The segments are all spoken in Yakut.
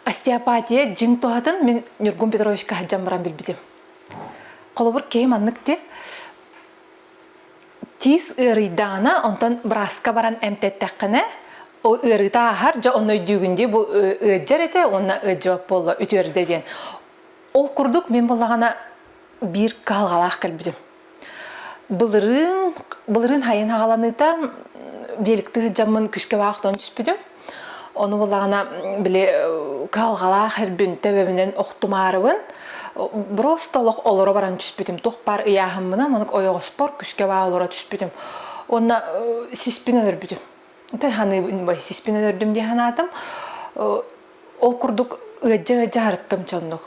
Остеопатия дьиҥ туһатын мин Ньургун Петровичка сылдьан баран билбитим. Холобур, киһи маннык дии, тиис ыарыйдаҕына онтон бырааска баран эмтэттэххинэ ол ыарыыта ааһар дьэ онно өйдүүгүн дии бу ыалдьар этэ уонна ыалдьыбат буолла үтүөрдэ диэн ол курдук мин буоллаҕына биир кыһалҕалаах кэлбитим былырыын былырыын хайын хааланыыта биэликти сыдьаммын күскэ баҕа хотон түспүтүм Ону булаана били калгалаах ирбин төбөмүнэн охтумаарыбын просто олох олоро баран түспүтүм тух пар ыйааһыммына манык ойоҕоспор күскэ баа олоро түспүтүм уонна сиспин өлөрбүтүм таһаныыбын бай сиспин өлөрдүм дии санаатым ол курдук ыаддьа-ыаддьа харыттым чоннук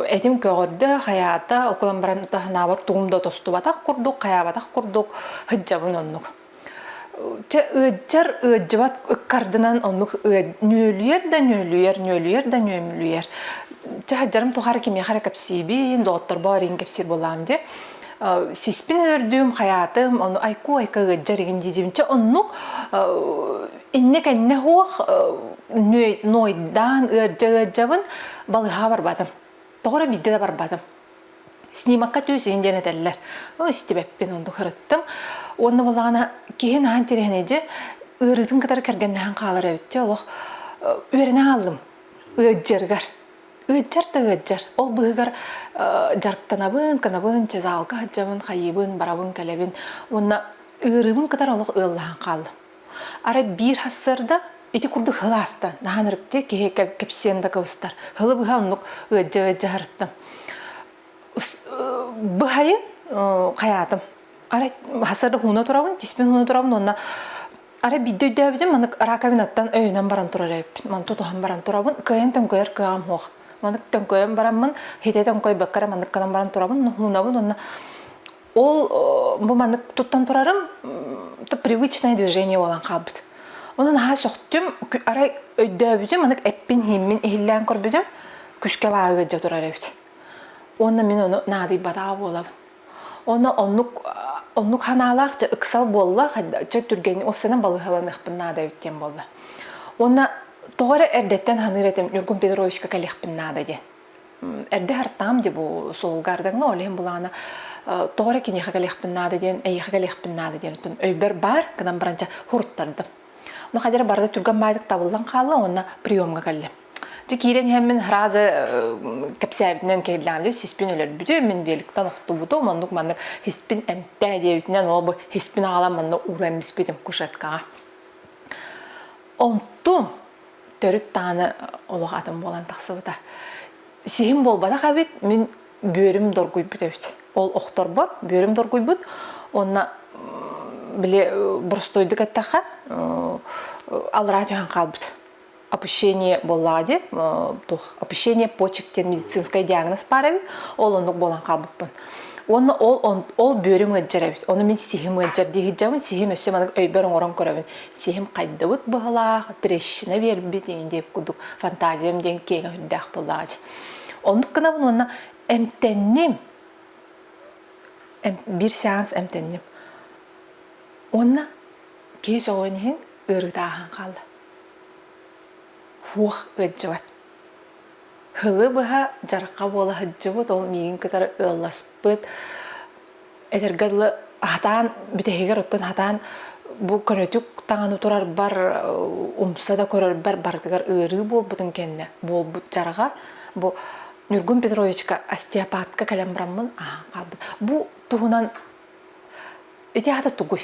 этим көҕөрдө хаyaата окулан баран таһанаабар тугум да тостубатах курдук хаyaабатах курдук хыддьабын оннук Чэ, ыытчар ыаддьыбат ыккардынан оннук ньүөлүйэр да ньүөлүйэр, ньүөлүйэр да ньүөмүлүйэр. Чэ, сылдьарым тухары кимиэхэ эрэ кэпсиибин, доҕотторбор арыйан кэпсиир буолаам диэ. Сиспин үөрдүм, хайаатым, ону айку-айка ыаддьар игин дии Чэ, оннук иннэ-кэннэ суох нуойдаан ыаддьа-ыаддьабын балыһаа барбатым. Тоҕо эрэ биирдэ да барбатым. Снимакка түөсүһүн диэн этэллэр. О, истибэппин оннук ырыттым. Уонна буоллаҕына киһи наһан тирэһинэйдьи ыарыытын кытары кэргэннэһэн хаалар эбит дьэ олох үөрэнэ хааллым ыаддьарыгар. Ыаддьар да ыаддьар. Ол быыһыгар дьарыктанабын, кынабын, чэ заалга сылдьабын, хайыыбын, барабын, кэлэбин. Уонна ыарыыбын кытары олох ыаллаһан хааллым. Арай биир сарсыарда ити курдук хыл ааста. Наһан ырыктыы киһи кэпсиэн да кыбыстар. Хылы быһа оннук ыаддьа-ыаддьа сырыттым. Быһайын хайаатым. Арай сарда хууна турабын, тиспин хууна турабын уонна Арай бидde өйдөөбүтүм, маннык раковинаттан өйөнөн баран турар эбиппин. Ман тутуһан баран турабын, кыайан төҥкөйөр кыаҕым суох. Маннык төҥкөйөн бараммын, хитэ төҥкөйбөккө маннык гынан баран турабын, нуһуунабын уонна Ол бу маннык туттан турарым привычное движение болан хаалбыт. Онон аһа сөхтүм, арай өйдөөбүтүм, анык эппин-иһиммин иһиллээн көрбүтүм, күшкэ бааһыгырдьа турар эбит. Уонна мин ону наадыйбатаҕа буолабын. Онно оннук оннук ханаалаах дьэ ыксал буолла, дьэ түргэнник офсанан балыһаланыахпын наада эбит диэн буолла. Уонна тоҕо эрэ эрдэттэн саныыр этим Ньургун Петровичка кэлиэхпин наада диэн. эрдэ артаам дии бу суолгаардаҥҥа ол иһин былаана тоҕо эрэ киниэхэ кэлиэхпин наада диэн эйиэхэ кэлиэхпин наада диэн отун өйбөр баар гынан баран ча хуруттардым но хадьара барыта түргэн баайдык табыллан хаалла уонна приемҥа кэллим дьэ киирэн иһэммин сразу кэпсээбитинэн кэллэм дьэ сиспин өлөрбүтүм мин великтан охтубутум оннук маннык сиспин эмтээ диэбитинэн ол бу сиспин аҕалан манна ууран эмбиспитим кушеткаҕа онтум төрүт даҕаны олох атын буолан тахсыбыта. Сиһим буолбатах эбит, мин бүөрүм доргуйбут эбит. Ол охторбор бүөрүм доргуйбут. Онна били боростойдук эттэххэ алраа түһэн хаалбыт. Опущение боллаҕа дии, туох опущение почек диэн медицинскай диагноз баар эбит. Ол оннук буолан хаалбыппын. Уонна ол ол бүөрүм ыалдьар эбит. Ону мин сиһим ыалдьар дии сиһим өссө маннык өйбөр оҥорон көрөбүн. сиһим хайдыбыт быһылаах, трещина биэрбит ини диэк кудук фантазиям диэн киэҥ өһүрдээх буоллаҕач. Оннук гынабын уонна эмтэнним. Эм, бір сеанс эмтэнним. Уонна кеш оҕон иһин ыарытааһын хаалла. Хуох ыаддьыбат. Һылы быһа дьарахха буола сылдьыбыт, ол миигин кытары ыалласпыт, Этэргэ дылы хатаан бүтэһигэр оттон хатаан бу көнөтүк таҥаны турарбар умса да көрөрбөр барытыгар ыарыы буолбутун кэннэ буолбут дьарга бу Ньургун Петровичка остеопатка кэлэн бараммын аһаан хаалбыт. Бу туһунан ити ата тугуй?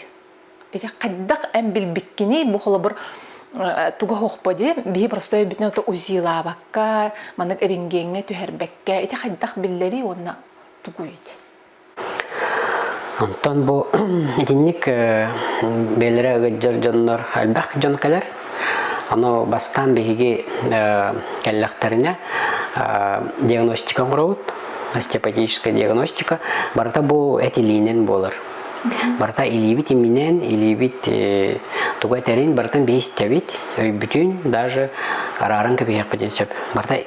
Ити хайдах эн билбиккиний бу холобур туга хохпо дии биһи простой бүтүн ото узилаабакка маннык ирингиэҥҥэ түһэрбэккэ ити хайдах биллэрий уонна тугуй ити Онтон бу итинник бэйэлэрэ ыгыддьар дьоннор элбэх дьон кэлэр. Ону бастаан биһиги кэллэхтэринэ диагностика оҥоробут, остеопатическая диагностика. Барыта бу этилиинэн буолар. Барыта илиибит иминэн, илиибит тугу этэрин барытын биһи истэбит, өйбүтүн даже арааран кэбиһиэхпитин сөп. Барыта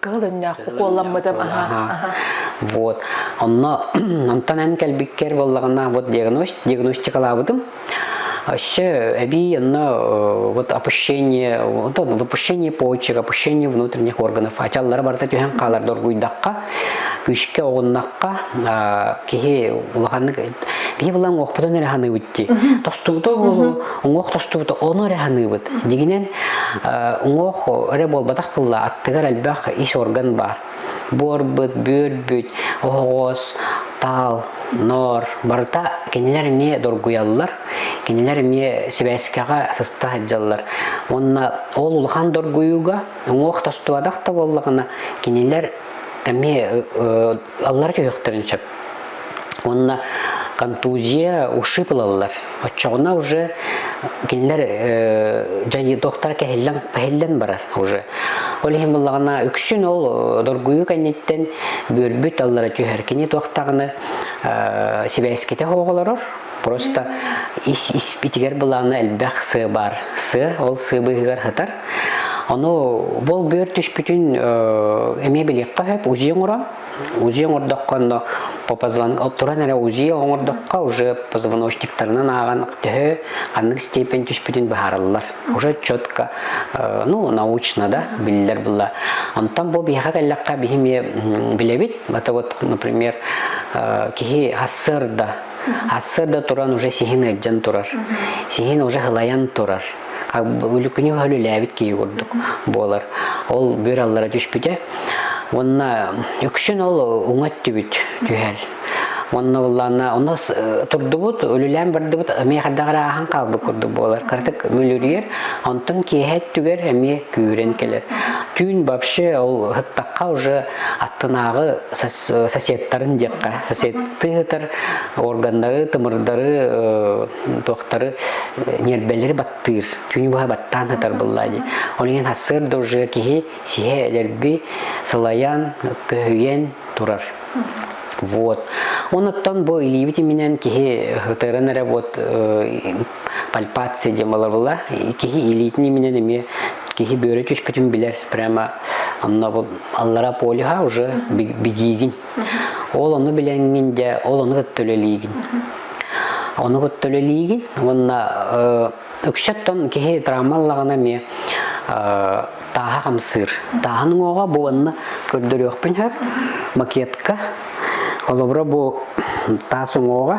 кыһыл өҥнөөх куолламмытым вот онно онтон эн кэлбиккэр буоллаҕына вот диагностикалаабытым Вообще, эбии онно вот опущение, вот выпущение почек, опущение внутренних органов. Ачаллары барыта түһэн хаалар доргуйдахха, күүскэ оҕуннахха, киһи улаханнык биһи былаан уохпутун эрэ ханыыбыт дии тостубута буолу уҥуох тостубута ону эрэ ханыыбыт дигинен уҥуох эрэ буолбатах былла аттыгар элбэх ис орган баар буорбут бүөрбүт оһоҕос таал ноор барыта кинилэр эмиэ доргуйаллар кинилэр эмиэ сибээскэҕэ сыста сылдьаллар уонна ол улахан доргуйууга уҥуох тостубатах да буоллаҕына кинилэр эмиэ ылаллар көһүөхтэрин сөп. Уонна контузия, ушиб ылаллар. Оччоҕуна уже кинилэр дьайыытохтара кэһиллэн, кэһиллэн барар уже. Ол иһин буллаҕына үксүн ол доргуйуу кэнниттэн бүөрбүт аллара түһэр. Кини туохтаҕына сибээскитэ хоҕолорор, Просто ис испитигэр былаана элбэх сыа баар. Сыа ол сыа быыһыгар хатар. Ону бол бөөр түспүтүн эмиэ билиэххэ хөп узия оңорон. Узия оҥордоххо но по позвон туран эрэ узия оҥордоххо уже позвоночниктарынан ааҕан төһө ханнык степень түспүтүн быһаарыллар. Уже четко ну научно да биллер было. Онтон бу биһэҕэ кэллэххэ биһи эмиэ билэбит. Это вот, например, киһи хассыарда Аццерда туран уже сиһин ыалдьан турар. Сиһин уже һылайан турар. Үлүкүнү өлүлээбит киһи курдук буолар. Ол бир аллара түспүтэ. Уонна үксүн ол уҥа өттүбүт түһэр. Онно буллаанна, онно турдубут, өлүлээн бардыбыт, эмиэ хардаҕар ааһан хаалбыт курдук буолар. Кыратык мүлүрүйэр, онтон киэһэ өттүгэр эмиэ күүрэн кэлэр. Түүн вообще ол ыһыттахха уже аттынааҕы соседтарын диэххэ соседты ыытар органнары тымырдары туохтары ньиэрбэлэри баттыыр түүн быһа баттаан ытар быллаа дии ол иһин сыр дужия киһи сиһэ эдэрби сылайан көһүйэн турар вот онуттан бу илиибит иминэн киһи ытыран эрэ вот пальпация диэн балабыла киһи илиитин иминэн эмиэ киһи бөөрө түспүтүн билэр прямо аннабыл аллара полюха уже бигиигин ол ону билэҥҥин дьэ ол ону кытта үлэлиигин ону кытта үлэлиигин уонна үксэттон киһи травмаллаҕына эмиэ тааһа хамсыыр тааһын уҥуоҕа бу уонна көрдөрүөхпүн сөп макетка холобура бу таас уҥуоҕа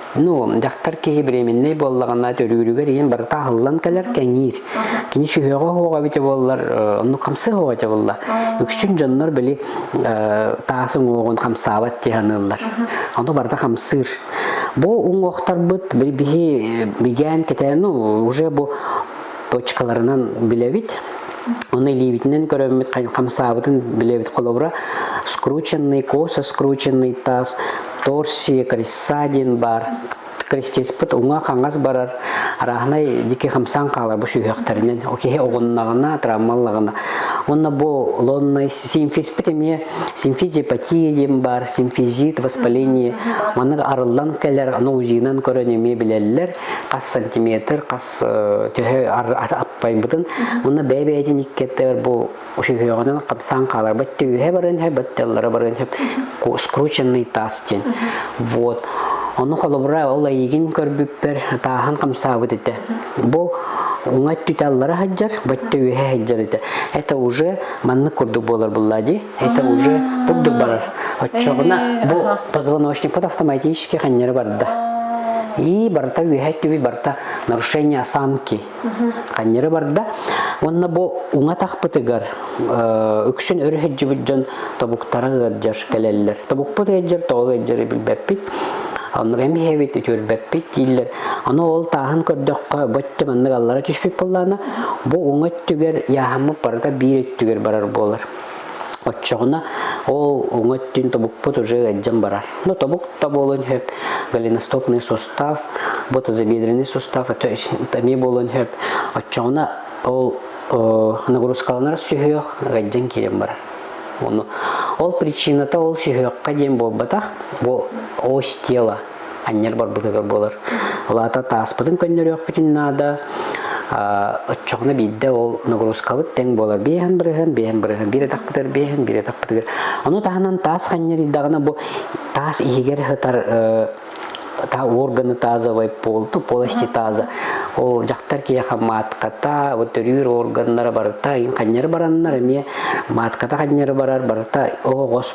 Ну, дьахтар киһи беременнэй буоллаҕына төрүүрүгэр ийэн барыта аһыллан кэлэр кэҥиир. Кини сүһүөҕө оһоҕа эбитэ буоллар, онну хамсыы оһоҕа эбитэ буолла. Үксүн дьоннор били таас уҥуоҕун хамсаабат дии саныыллар. Ону барыта хамсыыр. Бу уҥуохтарбыт били биһи бигээн кэтээн ну уже бу точкаларынан билэбит. Оны илиибитинэн көрөммүт хамсаабытын билэбит холобура скрученный, косо скрученный таас Торсия Крисса диэн баар крестеспыт уҥа-хаҥас барар арааһынай дикий хамсаан хаалар бу сүһүөхтэринэн киһи оҕуннаҕына травмаллаҕына уонна бу лонной симфизпит эмиэ симфизиопатия диэн баар симфизит воспаление маннык арыллан кэлэр аны узинан көрөн эмиэ билэллэр хас сантиметр хас төһө аппайбытын уонна бэйэ-бэйэтин иккиэттэр бу Үһүөҕүнэн хапсаан хааларбыт түһэ баран һэ батталлара баран һэ скрученный таас диэн. Вот. Ону холобура ол айыгин көрбүппэр атаахан хамсаабыт этэ. Бу уңа түтэ аллара хаджар, баттэ үһэ хаджар этэ. Это уже маннык курдук болар булла ди. Это уже бурдук барар. Оччоҕуна бу позвоночник под автоматически ханньары барда. И барта үһэ түби барта нарушение осанки. ханньыры барда уонна бу уҥа тахпытыгар үксүн өр иһирдьибит дьон тобуктара ыалдьар кэлэллэр тобукпут ыалдьар тоҕо ыалдьары билбэппит оннук эмиһэбит үтүөрбэппит дииллэр аны ол тааһын көрдөххө бөттө маннык аллара түспүт буоллаана бу уҥа өттүгэр яһаммыт барыта биир өттүгэр барар буолар Оччоҕуна ол уҥа өттүн тобукпут уже ыалдьан барар. Но тобук то болон хөп голеностопный сустав, ботазобедренный сустав это эмиэ болон хөп. Оччоҕуна ол нагрузкаланар сүһүөх ыалдьан киирэн барар. Оны ол причината ол сүһүөххэ диэн буолбатах, ол ось тело анньар барбытыгар буолар. Ол аата тааспытын көннөрүөхпүтүн наада. Оччоҕуна биирдэ ол нагрузкабыт тэҥ буолар. Биэһэн бырыһын, биэһэн бырыһын, биир атахпытыгар биэһэн, биир атахпытыгар. Ону таһынан таас ханньарыйдаҕына бу таас иһигэр сытар та органы тазовой полту, полости таза. Ол дьахтар киэха матката, вот төрүүр органнара барыта, ханньары бараннар эмиэ матката ханньары барар барыта оҕос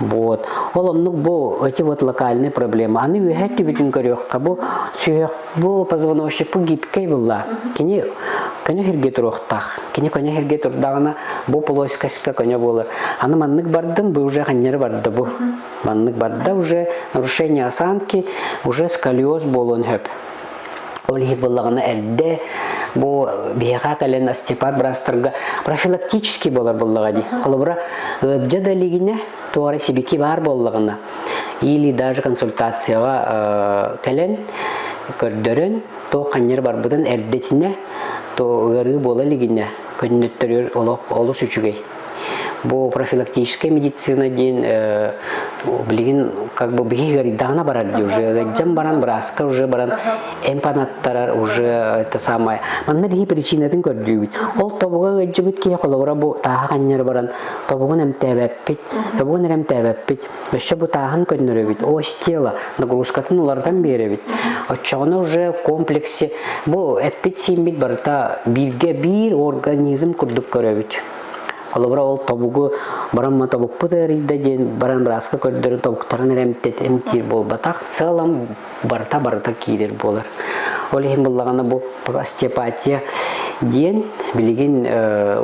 Вот. Ол оннук бу эти вот локальные проблемы. Аны үөһэ түбүтүн көрүөххэ бу сүһөх бу позвоночник бу гибкэй булла. Кини көне хирге туруохтаах. Кини көне хирге турдаҕына бу полоскаска көне болар. Аны маннык бардым, бу уже ханнары барда бу. Маннык барда уже нарушение осанки уже сколиоз болон хөп. Ол иһи быллаҕына эрдэ бу биһиэхэ кэлэн Степан Брастарга профилактический болар буллаҕа ди. Холобура, ыырдьа да илигинэ, туора сибики баар боллаҕына, или даже консультацияҕа кэлэн көрдөрөн, то ханньар барбытын эрдэтинэ, то ыарыы буола илигинэ, көннөттөрөр олох олус үчүгэй. Бу профилактическая медицина диэн билигин как бы биһиги ыйдаана барар дии уже ыйдьан баран бырааска уже баран эмпанаттарар уже это самое манна биһи причинатын көрдүүбүт ол тобуга ыйдьыбыт киһи холобура бу тааха ханньары баран тобугун эмтээбэппит тобугун эрэмтээбэппит Өссө бутааһын көннөрөбүт, ось тело, нагрузкатын уларытан биэрэбит. Оччоҕуна уже комплекси бу эппит-сииммит барыта бииргэ биир организм курдук көрөбүт. Холобура ол тобугу барамма тобукпут эрийдэ диэн баран бырааска көрдөрү тобуктарын эремтет эмтиир буолбатах, целом барыта барыта киирэр буолар. Ол иһин буллагана бу остеопатия диэн билигин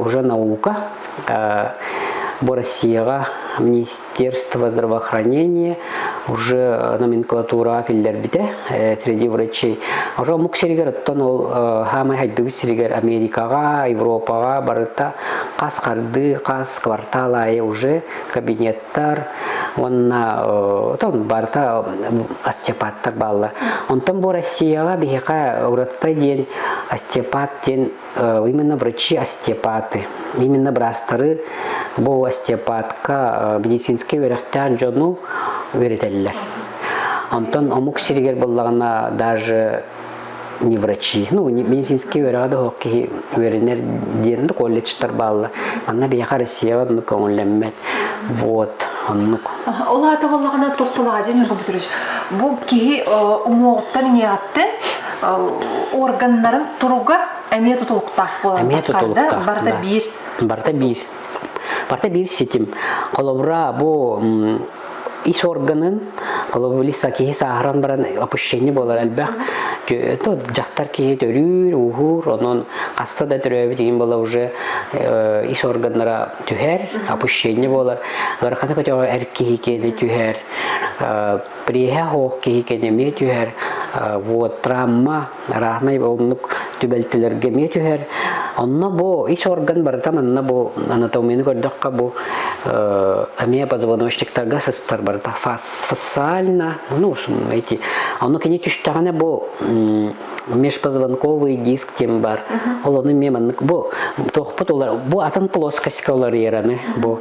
уже наука бу Россияга Министерство здравоохранения уже э, номенклатураҕа киллэрбитэ э, среди врачей. Уже омук сиригэр оттон ол хаамай хайдыбыт сиригэр Америкаҕа, Европаҕа барыта хас харды, хас квартал айы уже кабинеттар уонна отон барыта остеопаттар балла. Онтон бу Россияға биһиэхэ ураты диэн остеопат диэн именно врачи остеопаты, именно бырастары бу остеопатка медицинский үөрэхтээх дьону үөрэтэллэр. Онтон омук сиригэр буллаҕына даже не врачи. Ну, медицинский үөрэҕи да хоқ киһи үөрэнэр диирин да колледжтар баалла. Манна биһиэхэ Россия оннук көҥүллэммэт. Вот, оннук. Ол аата боллаҕына туох балаҕа дин бу бутуруш. Бу киһи умуоҕуттан иҥэҕэттэн органнарын туруга эмиэ тутулуктаах буолан эмиэ тутулуктаах барыта биир барыта биир барыта биир ситим холобура бу ис органын холобула са киһи сааһыран баран опущение буолар элбэх дьахтар киһи төрүүр ууһуур онон хаста да төрөөбүт игин бола уже ис органнара түһэр опущение буолар ыараханы көтөҕө эр киһи киэни түһэр Приеһэ оһох киһикэ эмиэ түһэр, вот травма раhnай оннук түбэлтэлэргэ эмиэ түһэр. Онно бу ис орган барыта манна бу анатомияны көрдөххө бу эмиэ позвоночниктарга сыстар барыта фасциально, ну, эти. Ону кини түстэҕинэ бу межпозвонковый диск тем бар. Ол ону мie маннык бу туохпут олар бу атын плоскость оларыйараны бу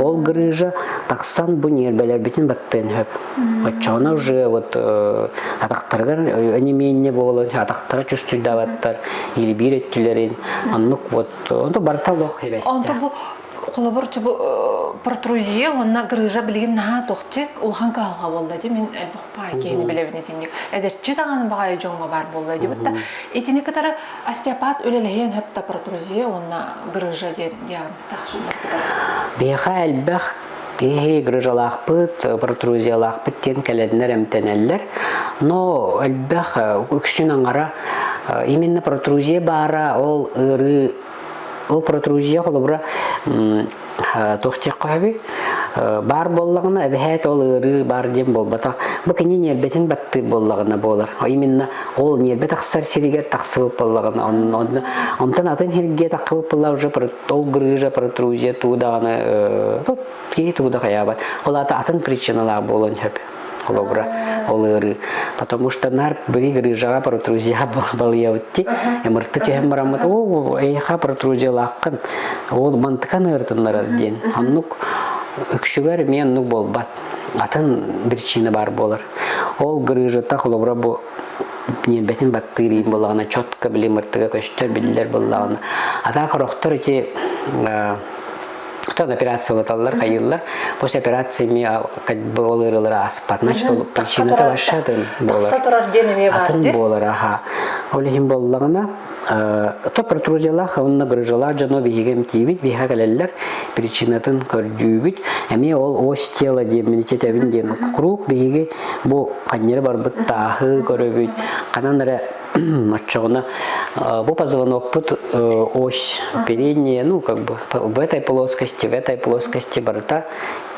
Ол грыжа тахсан бу ньиэрбэлэрбитин баттыан сөп. Оччоҕуна уже вот атахтарыгар онемение буолан атахтара чувствуйдаабаттар, илбиир өттүлэрин оннук вот онто барыта лох эбэстэ. Онто бу холобур чу бу протрузия уонна грыжа билигин наһаа тохти улахан каһалга буолла ди мин элбэх баай киһини билэбин итинник эдэрчи даҕаны баҕайы дьоҥҥо баар буолла ди бытта итини кытары остеопат үлэлэһиэн хөп та протрузия уонна грыжа диэн диагноз тахсыылаахпыта. Биһиэхэ элбэх киһи грыжалаахпыт, протрузиялаахпыт диэн кэлэннэр эмтэнэллэр. Но элбэх үксүн аҥара именно протрузия баара ол ыарыы ол протрузия холобура тухтиэхха хөбү баар буоллаҕына эбэһээт ол ыарыы баар диэн буолбатах бу кини ньиэрбэтин баттыыр буоллаҕына буолар именно Ол ньиэрбэ тахсар сиригэр тахсыбыт буоллаҕына, онтон атын сиргэ тахсыбыт буолла уже ол грыжа, протрузия туу даҕаны киһи туу да хайаабат. Ол аата атын причиналаах буолан сөп холобура ол ыарыы. Потому что нар были грыжаға протрузияға балыйабытти, эмырты кеһем бараммыт, оо, эйха протрузиялааққын, ол мантыкан ыртыннарар диэн. Оннук үксүгэр мен ну болбат. атын причина баар буолар. Ол грыжата холобура бу ньиэрбэтин баттыырыйын буллаҕына четко били мыртыга көстөр биллэр буллаҕына. Атаах хорохтор ити Тон операциялаталлар хайыллар. После операции ми ол ырылары аспат. Значит, ол причината ваша болар. Тахса турар диэн эмиэ бар. Атын болар, аха. Ол иһин боллаҕына то протрузиялаах уонна грыжалаах дьоно биһиги эмтиибит биһиэхэ кэлэллэр причинатын көрдүүбүт эмиэ ол ось тело диэн иммунитетэбин диэн куруук биһиги бу ханньары барбыт тааһы көрөбүт ханан эрэ оччоҕуна бу позвонокпут ось переднее ну как бы в этой плоскости в этой плоскости барыта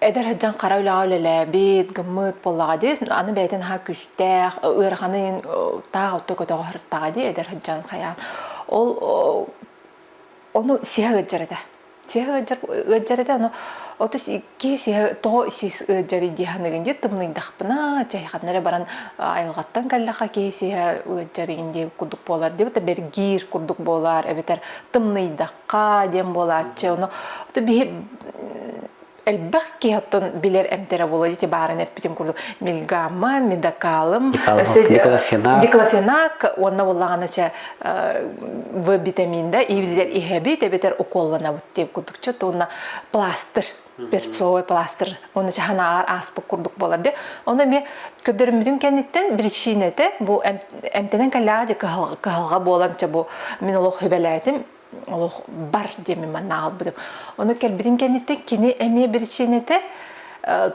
эдэр сыдьан хара үлэҕэ үлэлээбит, гыммыт буоллаҕа дии, аны бэйэтин аһа күстээх, ыараханын таах отто көтөҕө сырыттаҕа дии эдэр сыдьан хайаан. Ол ону сиһэ ыджар этэ. Сиһэ ыджар ыджар этэ ону оту киһи сиһэ тоҕо сис ыджар дии ханыгын дии тымныйдахпына чайханнар эрэ баран айылҕаттан кэллэхэ киһи сиһэ ыджарыгын дии курдук буолар дии бэргиир курдук буолар эбэтэр тымныйдах хаа диэн буолааччы ону элбэх киһи оттон билэр эмтэрэ буола дити бааран эппитим курдук мильгамма мидокалым диклофенак уонна буллаҕана чэ в витамин да и битэр иһэбит эбитэр уколланабыт диэн курдукча туонна пластыр перцовый пластыр уонна чаханааҕар ааспыт курдук буолар дэ ону эмиэ көрдөрүммүтүн кэнниттэн причинэтэ бу эмтэнэн кэллэҕэ дьэ кыһалҕа буолан ча бу мин олох хүбэлээтим олох бар диэми манна аҕалбытым ону кэлбитин кэнниттэн кини эмиэ причинэтэ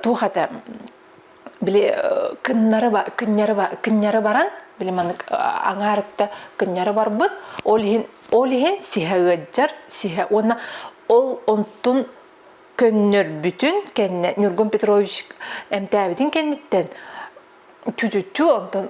туох этэ били кыннары кынньары баран били маннык аҥаарытта кынньары барбыт ол иһин ол иһин сиһэ ыаддьар сиһэ уонна ол онтун көннөрбүтүн кэннэ Ньургун Петрович эмтээбитин кэнниттэн түтүтү онтон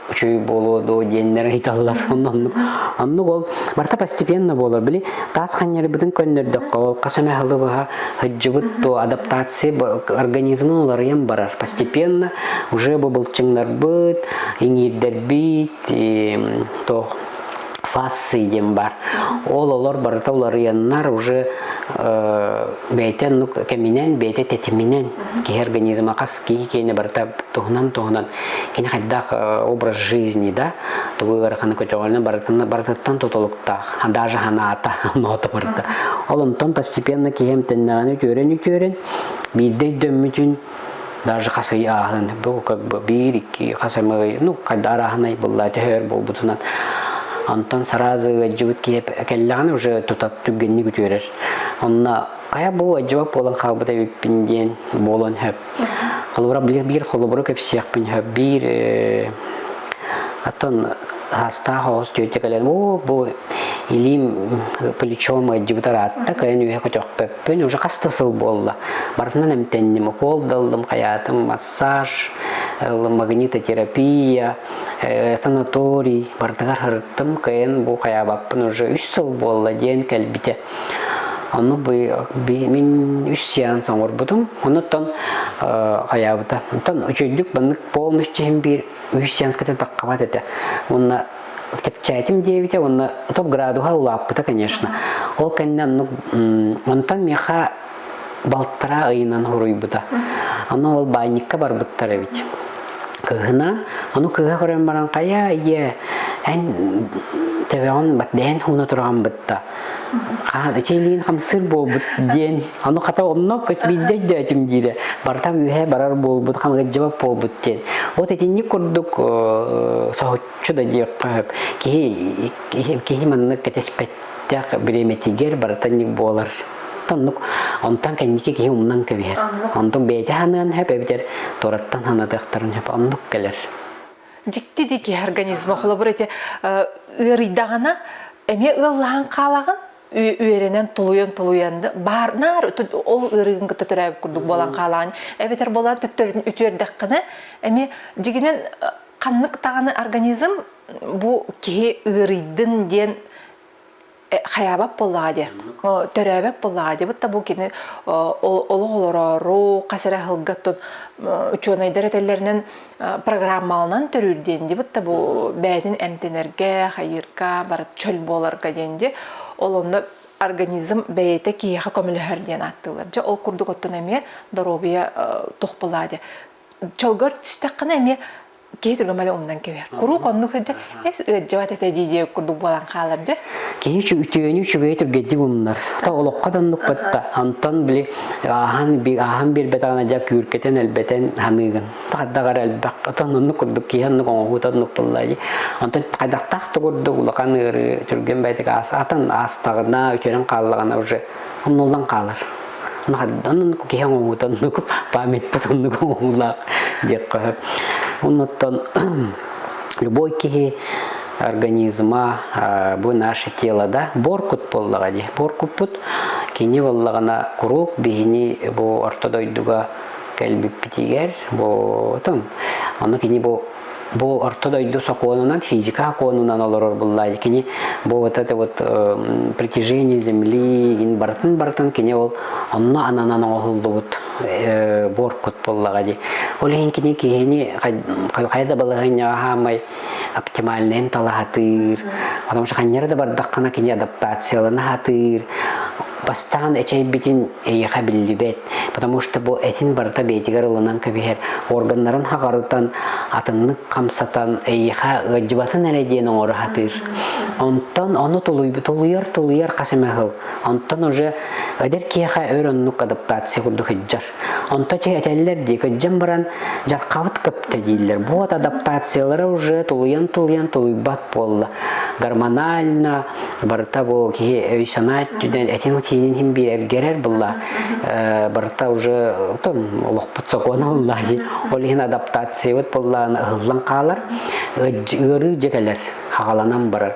үчүгэй буолуо доо диэннэр ыйыталлар оннук оннук ол барта постепенно буолар били таас ханньарбытын көннөрдөххө хас эмэ аһылы быһа һыддьыбыт то адаптация организмын уларыйан барар постепенно уже бу былчыҥнарбыт иҥиирдэрбит то фассы диэн бар ол олор барыта уларыйаннар уже бэйэтэ ну кэминэн бэйэтэ тэтиминэн киһи организма хас киһи киэнэ барыта туһунан-туһунан кини хайдах образ жизни да тугу ыараханы көтөҕөлүнэ барытын барытыттан тутулуктаах даже ханаата ноото барыта ол онтон постепенно киһим тэннэҕин үтүөрэн үтүөрэн биирдэ өйдөммүтүн даже хас ый ааһын бу как бы биир икки хас ый ну хайда арааһынай булла төһөр буолбутунан онтон сразу ыалдьыбыт киһи кэллэҕин уже тута түгэнник үтүөрэр онно Хайа бу дьуок буолан хаалбыт эбиппин диэн буолан сөп. Холобура билир биир холобуру кэпсиэхпин сөп. Биир аттон саастаах оҕус тетя кэлэн бу бу илиим плечом ыйдьыбытар аатта кайын үһэ көтөхпөппүн уже хаста сыл буолла барытынан эмтэнним укол даллым хаятым массаж магнитотерапия санаторий барытыгар ырыттым кайын бу хаябаппын уже үс сыл буолла диэн кэлбитэ Ону мин үс сеанс оҥорбутум. Онуттан хайаабыта. Оттон үчүйдүк маннык полностью иһин биир үс сеанскатын таххабат этэ. Уонна кэпчээтим диэбитэ уонна топ градуһа улааппыта, конечно. Ол кэннэ оннук онтон миэхэ балтараа ыйынан хоруйбута. Аны ол баайникка барбыттар эбит. Кыһына, аны кыһа көрөн баран, хайа, ийэ, эн төбөҕүн бэрдэһэн хууна туран бытта. Чилиин хамсыр буолбут диэн, аны хата онно көтбийдэ дөөтүм диирэ, бартам үһэ барар буолбут, хамыгырдьыбат буолбут диэн. Вот итинник курдук соһуччу да диэххэ сөп. Киһи киһи маннык кэтэспэт Тях бириэмэтигэр барытан ньик буолар. Оннук. Онтон кэнники киһи умнан кэбиһэр. Онтун бэйэтэ ханыан сөп эбитэр, туораттан ханатыахтарын сөп. Оннук кэлэр. Дьикти дии киһи организма холобур эти ыарыйдаҕына эмиэ ыаллаһан хаалаҕын үөрэнэн тулуйан тулуйан баар наар ол ыарыгын кытта төрөөбүт курдук буолан хаалаҕын эбэтэр буолан төттөрүтүн үтүөрдэххинэ эмиэ дьигинэн ханнык даҕаны организм бу киһи ыарыйдын диэн хайаабат буоллаҕа дии төрөөбөт буоллаҕа дии бу бу кини олох олороору хас эрэ аһылга тут учуонайдар этэллэринэн программаланан төрүүр диэн дии бу бу бэйэтин эмтэнэргэ хайыырга бары чөл буоларга диэн дии ол онно организм бэйэтэ киһиэхэ көмөлөһөр диэн ааттыыллар дьэ ол курдук оттон эмиэ доруобуйа туох буолаа дии чолгор түстэххинэ эмиэ киһи түгэм эле умнан кэбиһэр куруук оннук ыжа эс ыажжабат этэ дии дии курдук буолан хаалар дэ киһи үтүөнү үчүгэйи түргедди умнар та олоххо даннукпатта антон били аахан би аахан биэрбэтэҕына дьа күүркэтен элбэтен ханыгын тахаддаҕар элбэх отон оннук курдук киһи оннук оҥоһуут оннук тыллайы антон хайдахтаах тугурдук улахан ыары түргэн байтик аас атын аастаҕына үтүөрэн хааллаҕына уже умнулдан хаалар наһардан киһи оҥоһутаннык памятпыт оннук оҥоһуулаах диэххэ оннуттан любой киһи организма бу наше тело да боркут буоллаҕа дии боркуппут кини буоллаҕына куруук биһини бу орто дойдуга кэлбиппитигэр бу ону кини бу бу орто дойду сокуонунан физика сокуонунан олорор буллай кини бу вот это вот притяжение земли ин барытын барытын кини ол онно ананан оҕуһуллубут буоркут боллаға ди ол иһин кини киһини хайда балаһыньа хаамай оптимальнайын талаһатыыр потому что ханньара да бардаххана кини адаптациялана хатыыр Бастаан эчэйбитин эйиэхэ биллибэт, потому что бу этин барыта бэйэтигэр ылынан кэбиһэр органнарын хаҕарытан, атыннык хамсатан, эйиэхэ ыалдьыбатын эрэ диэн оҥоро сатыыр. Онтон ону тулуйбут, тулуйар, тулуйар хас эмэ сыл. Онтон уже эдэр киһиэхэ өр оннук адаптация курдук сылдьар. Онто чи этэллэр дии, кыдьым баран, дьархабыт кыпта дииллэр. Вот адаптациялара уже тулуйан-тулуйан тулуйбат буолла. Гормонально, барыта бу киһи өй-санаа өттүнэн этин тиинин хин биэрэргэрэр булла. Барыта уже тон олохпут сокуона булла ди. Ол иһин адаптациябыт буллаана ыһыллан хаалар. Ыарыы дьекелер хагаланан барар.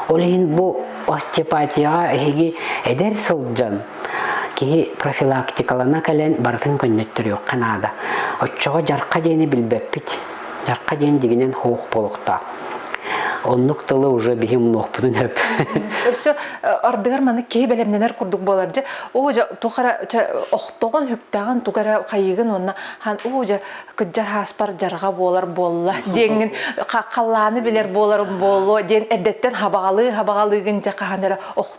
Ол иһин бу остеопатияга эһиги эдэр сылдьан Киһи профилактикалана кэлэн барытын көннөттөрүөххэ наада. Оччоҕо дьарха диэни билбэппит. Дьарха диэн дигинэн хуох буолуохтаах. Оннук тылы уже биһи умнуохпутун өп. Өссө ардыгар маны киһи бэлэмнэнэр курдук буолар дьэ оо дьэ туох эрэ охтоҕун хүктээҕин туга эрэ хайыгын уонна хан оо дьэ кыддьар хааспар дьарҕа буолар буолла диэҥҥин халлааны билэр буоларым буолуо диэн эрдэттэн хабаҕалыы хабаҕалыыгын дьэ хаһан эрэ охтоҕун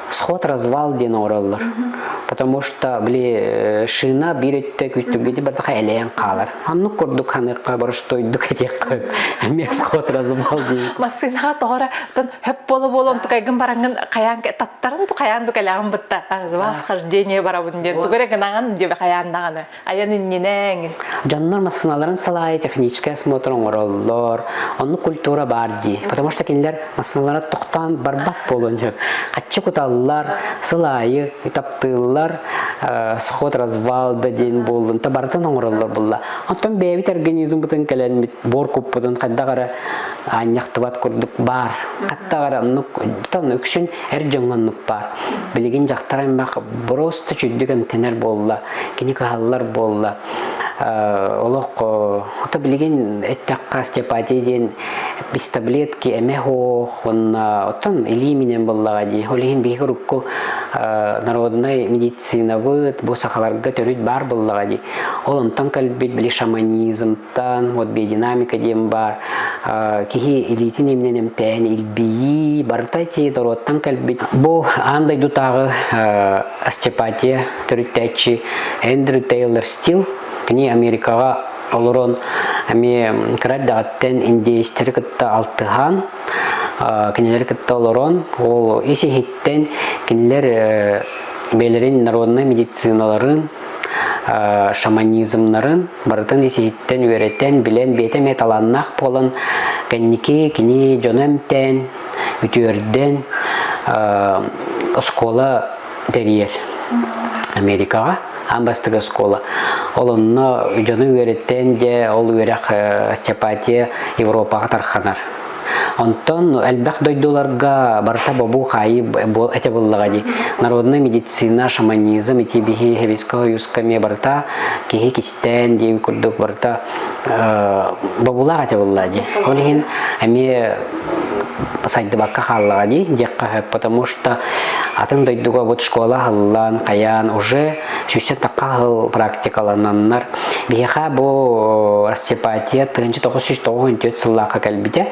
сход развал диэн оҥороллор потому что били э, шина биир өттө күттүмгэти бардаха элэйэн хаалар аннык курдук ханыахха боростойдук этиэххэ эмиэ сход развал диэн массыынаҕа тоҕора тон хөп буола буолан тукайгын бараҥҥын хайаан таттарын ту хайаан ту кэлэҕин бытта развал схождение барабын диэн тугу эрэ гынаҕын диэбэ хайаан даҕаны Айан иннинэҥ. Дьоннор массыыналарын салайы технический осмотр оҥороллор. Онну культура баар дии. Потому что кинилэр массыыналара тохтоон барбат буолуон сөп. Аччы куталлар, сыл аайы таптыыллар, э, сход развал да диэн буоллун, табарытын оҥороллор булла. Оттон бэйэбит организм бытын кэлэнмит бор куппутун хайдах эрэ аанньахтыбат курдук баар. Хатта эрэ оннук тонна үксүн эр дьоҥҥоннук баар. Билигин дьахтар эмбэх бороста чүддүк эмтэнэр буолла. Кини каһаллар буолла. Олох хото билигин эттэххэ остеопатия диэн без таблетки, эме ох, онна оттон илии минен буллаҕа дии. Ол иһин биһиги урукку народнай медицинабыт бу сахаларга төрүт баар буллаҕа дии. Ол онтон кэлбит били шаманизмтан, вот биодинамика диэн баар киһи илиитин имнен эмтээн илбийии, барыта ити доруоттан кэлбит. Бу аан дойдутааҕы Астепатия төрүттээччи Эндрю Тейлор Стил кини Америкаҕа олорон эмиэ кыра эрдэҕиттэн индеецтэри кытта алтыһан кинилэри кытта олорон ол ис иһиттэн кинилэр бэйэлэрин народнай медициналарын шаманизмнарын барытын ис иһиттэн үөрэтэн билэн бэйэтэ эмиэ талааннаах буолан кэнники кини дьоно эмтээн Бүтүөрдэн оскуола тэрийэр Америкаҕа аан бастакы оскуола. Ол онно дьону үөрэттэн дьэ ол үөрэх Чапатия Европаҕа тарханар. Онтон элбэх дойдуларга барыта бобуу хаайыы этэ буллаҕа дии. Народная медицина, шаманизм ити биһи Советскай Союзка эмиэ барыта киһи тээн диин курдук барыта бобулаах эте булла ди ол иһин эми сайдыбакка хааллаҕа ди диэххэ потому что атын дойдуга бут школа аһыллан каян уже сүүстэн такка аһыл практикалананнар биһиэхэ бу расцепатия тыынчы тоғыз сүүс тоғыз он төрт сыллаахка кэлбитэ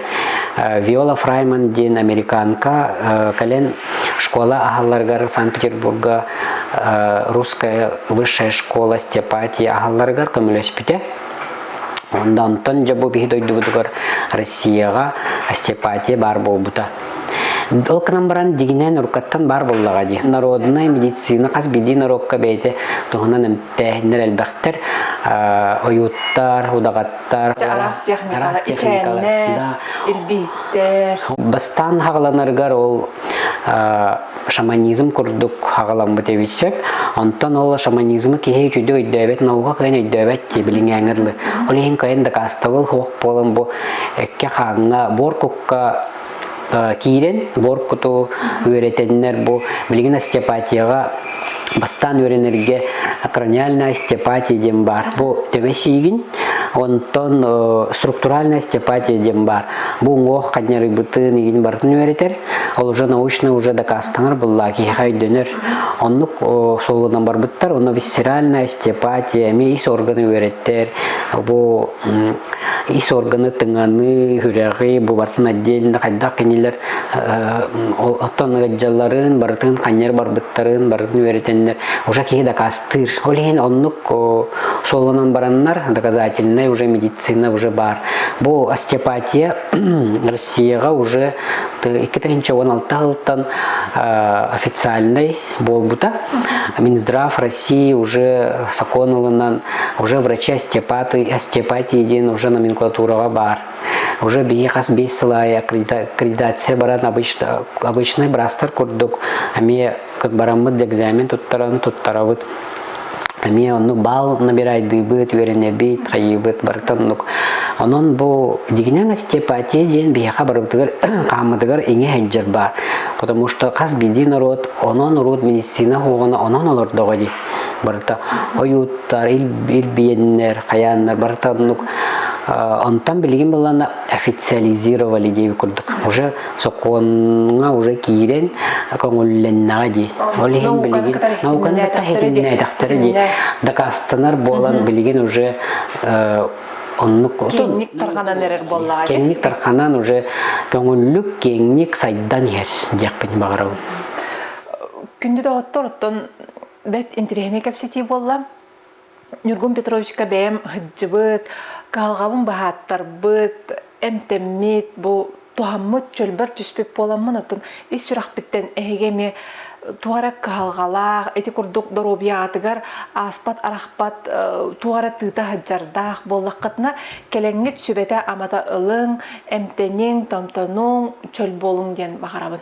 виола фрайман диэн американка кэлэн школа аһалларгар санкт петербурга русская высшая школа Степатии аһалларыгар көмөлөспүтэ. Онда онтон дьэ бу биһи дойдубутугар Россияга Степатия баар буолбута. Ол кынан баран дигинэн уруккаттан баар боллаға ди. Народная медицина хас бидий народка бейте туһунан эмтээһиннер элбэхтер ойуттар, удаҕаттар, араас техникалар, ичээннэр, ирбииттэр. Бастан хагаланарыгар ол шаманизм курдук аҕаламмыт эбит сөп. Онтон ол шаманизмы киһи үчүгэй өйдөөбөт, наука кыайын өйдөөбөт дии билиҥээҥерлы. Ол иһин кыайын дакаастабыл хуох буолан бу экке хааҥҥа буоркукка киирэн буоркуту үөрэтэннэр бу билигин остеопатияҕа бастаан үөрэнэргэ корональная остеопатия диэн баар. Бу төбө сиигин, онтон структуральная остеопатия диэн баар. Бу уҥуох ханньарыйбытын игин барытын үөрэтэр. Ол уже научный, уже дакаастанар булла киһиэхэ өйдөнөр. Оннук суолунан барбыттар. Онно висцеральная остеопатия, эмиэ ис органы үөрэттэр. Бу ис органы, тыҥаны, үһүрэҕи, бубатын отдельно хайдах кинилэр оттон ыалдьалларын, барытын ханньар барбыттарын, барытын үөрэтэннэр уже киһи дакаастыыр. Ол иһин оннук суолунан бараннар доказательная уже медицина уже бар. Бу остеопатия СИА-ҕа уже икки тыһыынча уон алта сылтан официальнай буолбута. Минздрав России уже закон ылынан, уже врачи остеопаты, остеопатии диэн уже номенклатураҕа баар. Уже биһи хас биэс сыл аайы аккредитация баран обычно, обычный браастар курдук, эмиэ бараммыт экзамен туттаран туттарабыт эмиэ оннук баал набирайдыыбыт үөрэнэбит хайыыбыт барыттан оннук онон бу дигинен остеопатия диэн биһиэхэ барыбытыгар хааммытыгар иҥэ сылдьар баар потому что хас биирдии норуот онон урут медицина хуоҕуна онон олордоҕо дии барыта ойууттар илбиэннэр хайааннар барыта оннук онтон билигин былана официализировали диэби курдук уже сокуоҥҥа уже киирэн көҥүллэннэҕэ дии. Ол иһин билигин науканы да саһитиннээтэхтэрэ дии. Дакаастанар буолан билигин уже оннук киэҥник тарҕанан эрэр буоллаҕа. Киэҥник тарҕанан уже көҥүллүк киэҥник сайдан иһэр диэхпин баҕарабын. Күндү доҕоттор, оттон бэрт интэриэһинэй кэпсэтии буолла. Ньургун Петровичка бэйэм ыһыддьыбыт, кыһалҕабын баһааттарбыт, эмтэммит, бу туһаммыт, чөлбөр түспүт буоламмын, оттон ис сүрэхпиттэн эһиги эмиэ туох эрэ кыһалҕалаах, ити курдук доруобуйаҕытыгар ааспат арахпат туох эрэ тыыта сылдьардаах буоллаххытына, кэлэҥҥит сүбэтэ-амата ылыҥ, эмтэниҥ, томтонуҥ, чөл буолуҥ диэн баҕарабын.